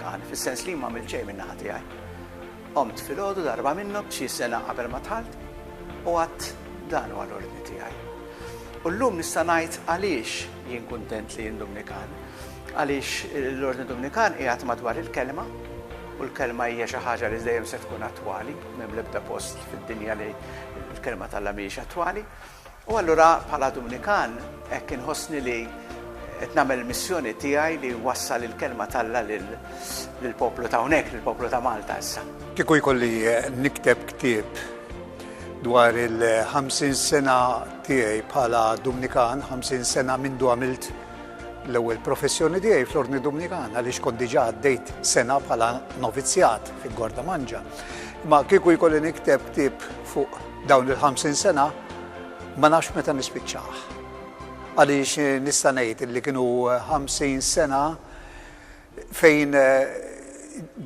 Kan, fis-sens li jien m'għamilt xejn min-naħa tiegħi. Qomt filgħodu darba minnhom, xi sena qabel ma dħalt, u għadt, Dan huwa l-ordni tiegħi. U llum nista' ngħid għaliex jien kuntent li jien Dumnikan. Għaliex l-ordni Dumnikan qiegħed madwar il-kelma, u l-kelma hija xi ħaġa li dejjem se tkun attwali, m'hemm l-ebda post fid-dinja li l-kelma tal-Alla mhijiex attwali. U allura bħala Dumnikan hekk inħossni li qed nagħmel il-missjoni tiegħi li nwassal il-kelma t'Alla lill-poplu ta' hawnhekk, lill-poplu ta' Malta issa. Kieku jkolli nikteb ktieb dwar il-50 sena tiegħi bħala Dumnikan, 50 sena mindu għamilt l-ewwel professjoni tiegħi fl-Ordni Dumnikan għaliex kont diġà għaddejt sena bħala novizzjat fil-Gorda Manġa. Ma kieku jkolli nikteb ktieb fuq Dawn il-ħamsin sena ma nafx meta nispiċċah. Għaliex nista' ngħid li kienu ħamsin sena fejn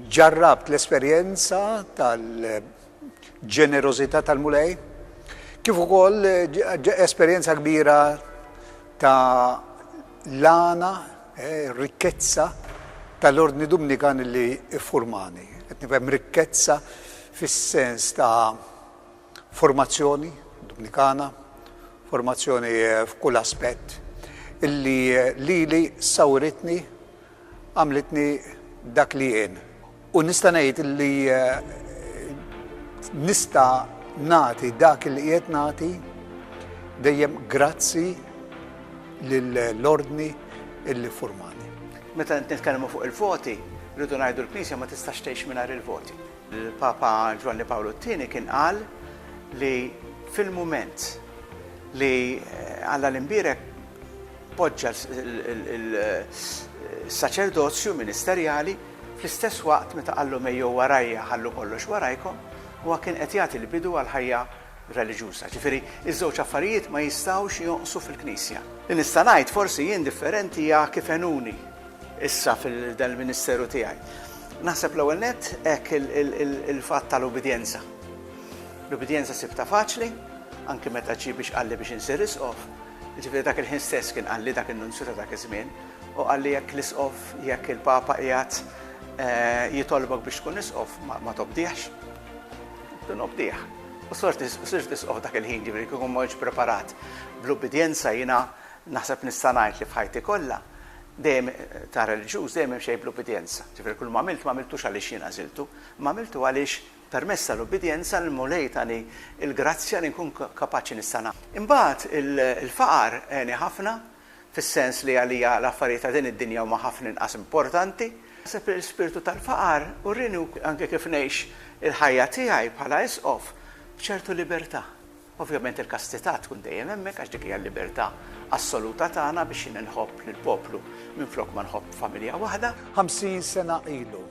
ġarrabt l-esperjenza tal-ġenerożità tal-Mulej, kif ukoll esperjenza kbira ta' l-għana Ir-rikkezza tal-Ordni Dumnikan li ffurmani. Qed nifhem rikkezza fis-sens ta' formazzjoni Dumnikana, formazzjoni f'kull aspett, illi lili sawritni, għamlitni dak li jien. U nista' ngħid li nista' nagħti dak li qiegħed nagħti dejjem grazzi lill-Ordni li ffurmani. Meta nitkellmu fuq il-voti, rridu ngħidu l-Knisja ma tistax tgħix mingħajr il-voti. Il-Papa Ġwanni Pawlu t-Tieni kien qal li fil-mument li Alla l-Imbierek poġġa s-saċerdozju ministerjali, Fl-istess waqt, meta qallhom ejjew warajja, ħallu kollox warajkom, huwa kien qed jagħti l-bidu għall-ħajja reliġjuża. Ġifieri, iż-żewġ affarijiet ma jistgħux jonqsu fil-Knisja. Li nista' ngħid, forsi jien differenti hija kif għenuni issa f'dan il-ministeru tiegħi. Naħseb l-ewwel nett hekk il-fatt tal-ubbidjenza. L-ubbidjenza sibtha faċli, anki meta ġie biex qalli biex insir Isqof, jiġifieri dak il-ħin stess kien qalli dak in-Nunzju ta' dak iż-żmien, Hu qal li jekk l-Isqof, jekk il-Papa qiegħed jitolbok biex tkun Isqof, ma tobdihx. Tkun obdih. U sirt Isqof dak il-ħin, ġifieri kieku ma kontx preparat bl-ubbidjenza jiena naħseb nista' ngħid li f'ħajti kollha dejjem ta' reliġjuż dejjem imxejt bl-ubbidjenza. Ġifieri kull m'għamilt m'għamiltux għaliex jien għażiltu, imma għamiltu għaliex permezz tal-ubbidjenza l-Mulej tani l-grazzja li nkun kapaċi nista' nagħmel. Imbagħad il-faqar għeni ħafna fis-sens li għalija l-affarijiet ta' din id-dinja huma ħafna inqas importanti. Naħseb li l-ispirtu tal-faqar urieni anke kif ngħix il-ħajja tiegħi bħala Isqof b'ċertu libertà. Ovvjament il-kastità tkun dejjem hemmhekk għax dik hija l-libertà assoluta tagħna biex jien inħobb lill-poplu minflok ma nħobb familja waħda. Ħamsin sena ilu,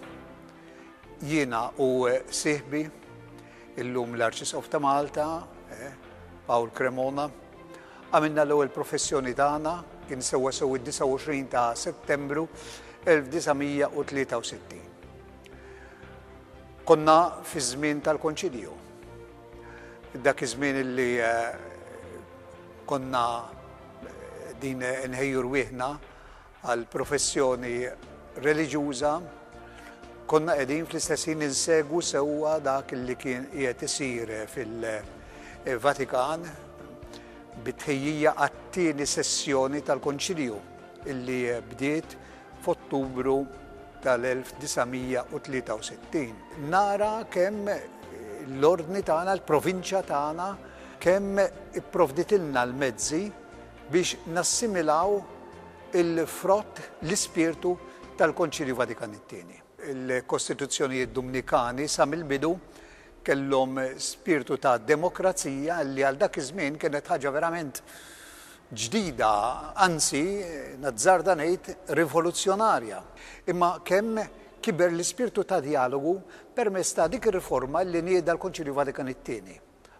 jiena u sieħbi, illum l-Arċisqof ta' Malta, Paul Cremona, Għamilna l-ewwel professjoni tagħna, kien sewwasew id-29 ta' Settembru 1963. Konna fiż-żmien tal-Konċilju. Dak iż-żmien li konna din inħejju rwieħna għall-professjoni reliġjuża, konna qegħdin fl-istess ħin insegwu sewwa dak li kien qiegħed isir fil-Vatikan bit-tħejjija għat-tieni sessjoni tal-Konċilju illi bdiet f'Ottubru tal-1963. Nara kemm l-Ordni tagħna, l-provinċja tagħna, kemm ipprovditilna l-mezzi biex nassimilaw il-frott, l-ispirtu tal-Konċilju Vatikan it-Tieni. Il-Kostituzzjonijiet Dumnikani sa mill-bidu kellhom spirtu ta' demokrazija li għal dak iż-żmien kienet ħaġa verament ġdida, anzi, nazzarda ngħid, rivoluzzjonarja. Imma kemm kiber l-ispirtu ta' djalogu permezz ta' dik ir-riforma li nieda l-Konċilju Vatikan it-Tieni.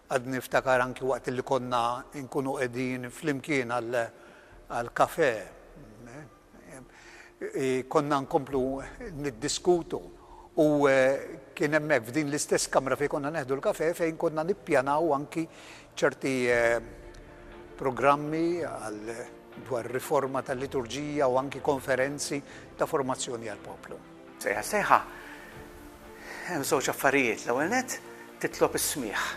Għadni niftakar anki waqt li konna nkunu qegħdin flimkien għall-kafè, konna nkomplu niddiskutu u kien hemmhekk f'din l-istess kamra fejn konna neħdu l-kafè fejn konna nippjanaw anki ċerti programmi dwar riforma tal-liturġija u anki konferenzi ta' formazzjoni għall-poplu. Sejħa sejħa, hemm żewġ affarijiet. L-ewwel nett titlob is-smigħ.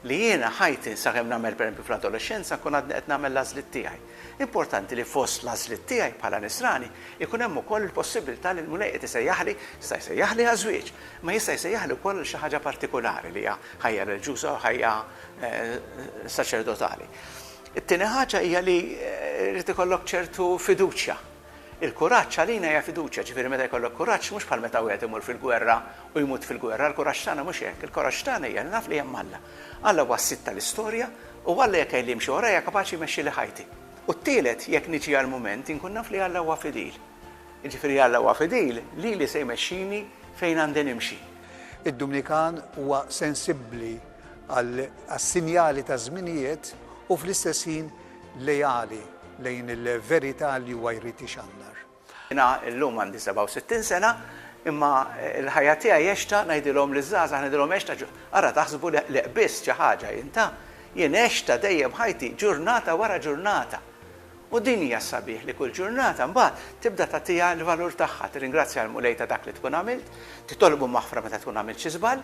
Li jiena ħajti sakemm nagħmel perempju fl-adolexxenza nkun għadni qed nagħmel l-għażliet tiegħi. Importanti li fost l-għażliet tiegħi bħala nisrani ikun hemm ukoll il-possibilità li l-Mulej qed isejjaħli, jista' jsejjaħli għaż-żwieġ, ma jista' jsejjaħli wkoll għal xi ħaġa partikulari li hija ħajja reliġjuża u ħajja saċerdotali. It-tieni ħaġa hija li jrid ikollok ċertu fiduċja Il-kuraġġ għalina hija fiduċja, ġifieri meta jkollok kuraġġ mhux bħal meta wieħed imur fil-gwerra u jmut fil-gwerra, l-kuraġġ tagħna mhux hekk, il-kuraġġ tagħna hija li naf li hemm Alla. Alla huwa s-sid tal-istorja u Alla jekk għidli imxi warajja kapaċi jmexxili ħajti. U t-tielet, jekk niġi għall-mument, inkun naf li Alla huwa fidil. Jiġifieri Alla huwa fidil lili se jmexxini fejn għandi nimxi. Id-Dumnikan huwa sensibbli għas-sinjali taż-żminijiet u fl-istess ħin leali lejn il-verità li huwa jrid ixandar. Jiena llum għandi 67 sena, imma l-ħajja tiegħi għextha, ngħidilhom liż-żgħażagħ, ngħidilhom għextha, ara taħsbu li qbiżt xi ħaġa jien, ta, jien għextha dejjem ħajti ġurnata wara ġurnata. U din hija s-sabiħ li kull ġurnata mbagħad tibda tagħtiha l-valur tagħha, tirringrazzja lill-Mulej ta' dak li tkun għamilt, titolbu maħfra meta tkun għamilt xi żball,